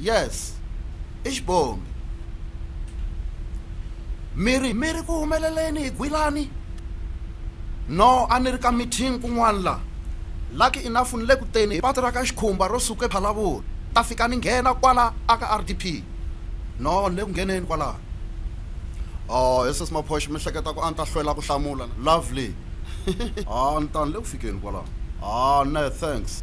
yes i xibomi mi ri mi ri ku humeleleni hi gwilani no a ni ri ka meeting kun'wana la lucky enough ni le ku teni hi patu ra ka xikhumba ro suka ephalavula ta fika ni nghena kwala aka r d p no ni le ku ngheneni kwalaho o oh, yeses maphoxi mi hleketa ku a ni ta hlwela ku hlamula lovely a ah, ni ta ni le ku fikeni kwalaho a ah, ne thanks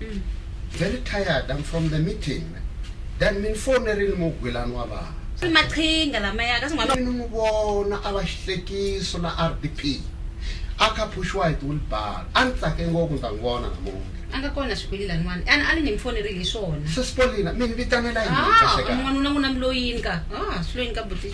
mm. very tired i'm from the meeting then mi ni fonerile mugwilani wa vana i maqhinga lamaya kasi n'wana ni n'wi vona a va xihlekiso la r d p a kha phuxiwa hi tiwilbar a ni tsake ngopfu ni ta n'wi vona namunge a nga kona swikweli laniwani a a ni ni mi fonerile hi swona sesipolina mi ni vitanela yini ah, n'wanuna n'wina mi loyini ka ah, swi loyini ka buti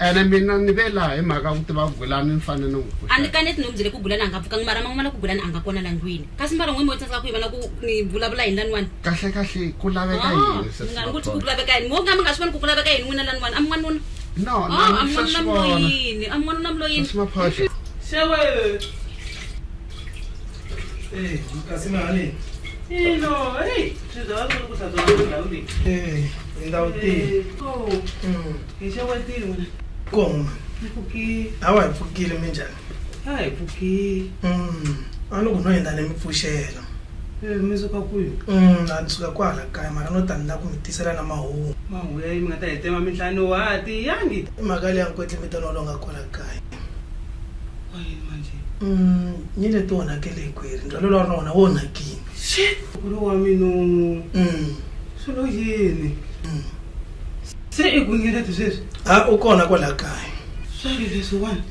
ene mina ni ve laha hi mhaka ku tiva gulani ni fanele ni n'wi pfuxa a ni kaneti ni n'wi byele ku gulani a nga pfukanga mara man'wana ku gulani a nga kona la ndlwini kasi mbara n'we mi tsandzeka ku yi vona ku ni vulavula hi laniwani kahle kahle ku laveka ah, yini mi nga ni ku ti ku laveka yini mo ka mi nga swi voni ku ku laveka yini n'wina laniwani a mi n'wanuna no ah, a mi n'wanuna mloyini a mi n'wanuna mloyini xewe ee kasi mahani ino ei swi byala swi ri ku hlantswa ndhawu leyi ee ndhawu tihi hi xewetile wena koma hi pfukile hawa hi pfukile minjhani a hi pfukile Mm, a loko no endla ni mi pfuxela Eh, mi suka kwihi Mm, a ni suka kwahala kaya mara no tani la ku mi tisela na mahungu mahungu ya yi mi nga ta hi tema mintlhani wa ha tiyangi i mhaka leyi ya nkwetle mi tona lo nga kwala kaya wa yini manje Mm, ni leti onhakele hikweri ndzhwalo lowu a ri na wona wo onhakile shit kulu wa minu Mm, swilo yini mm. Se i ku ngeleti sweswi? A u kona kwala kaya. Swa ri leswiwani?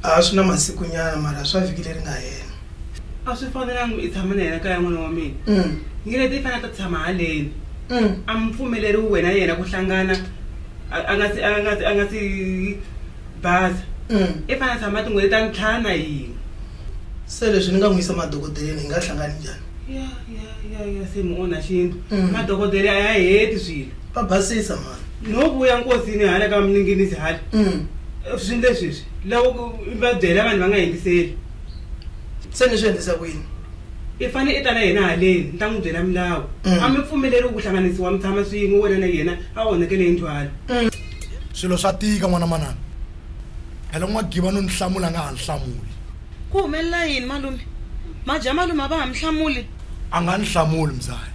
A swi na masikunyana mara swa vhiki leri nga hela. A swi fanelanga i tshama na yena kaya n'wana wa mina. Ngeleti i fanele a ta tshama haleni. A mi pfumeleriwi wena na yena ku hlangana a a nga si a nga si a nga si basa. I fanele a tshama tin'hweti ta ntlhanu na hina. Se leswi ni nga n'wi yisa madokodeleni hi nga hlangani njhani? Ya ya ya ya se mi onha xintu. Madokodele a ya heti swilo. va basisa mhani no vuya nkosini hala ka mninginisi hala mm. swilo leswiswi loko va byela vanhu va nga yingiseli se ni swi endlisa ku yini i fane i ta na yena haleni ni ta n'wi byela milawu mm. a mi pfumeleriwi ku hlanganisiwa mi tshama swin'we wena na yena a onhakele yindlu hala mm. swilo swa tika n'wana manana phela ku n'wagiva no ni hlamula a nga ha ni hlamuli ku humelela yini malume madya malume a va ha mi hlamuli a nga ni hlamuli mzali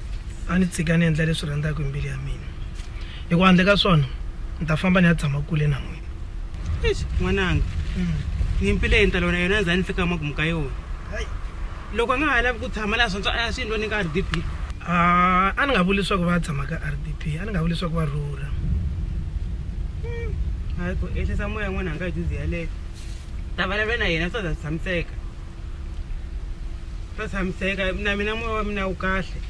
a ni tshika ni endla leswi rhandzaka hi mbilu ya mina hi ku handle ka swona ni ta famba ni ya tshama kule na n'wina eish n'wananga hmm. nyimpi leyi ni ta lona yona za ni fika makumu ka yona loko a nga ha lavi ku tshama laha swantso a swi ndlo ni ka r d p a ni nga vuli leswaku va tshama ka r d p a ni nga vuli leswaku va rhurha hmm. hayi ku ehlisa moya n'wananga hi juzi yaleyo ta vulavula na yena swa za swi tshamiseka va tshamiseka na mina moya wa mina wu kahle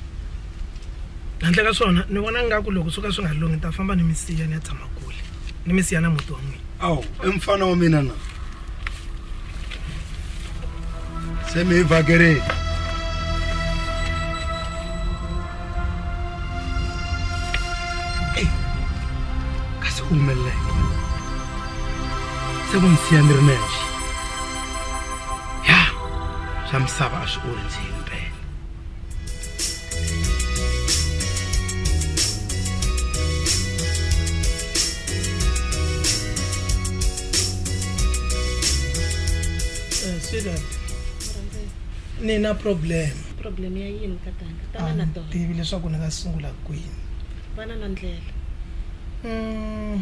handle ka swona ni vona ngaku loko swo ka swi nga lunghi ni ta famba ni mi siya ni ya tshama kule ni mi siya na muti wa n'wina awu i mfana wa mina na se mi hi vhakerini kasi u humeleleke se ku ni siya ni ri nexe ya swa misava a swi ondzile mpela Eh, sweetheart ni na problem problem ya yini tatana a tana na ni tona tivi leswaku ni nga sungula kwini vana na ndlela Mm,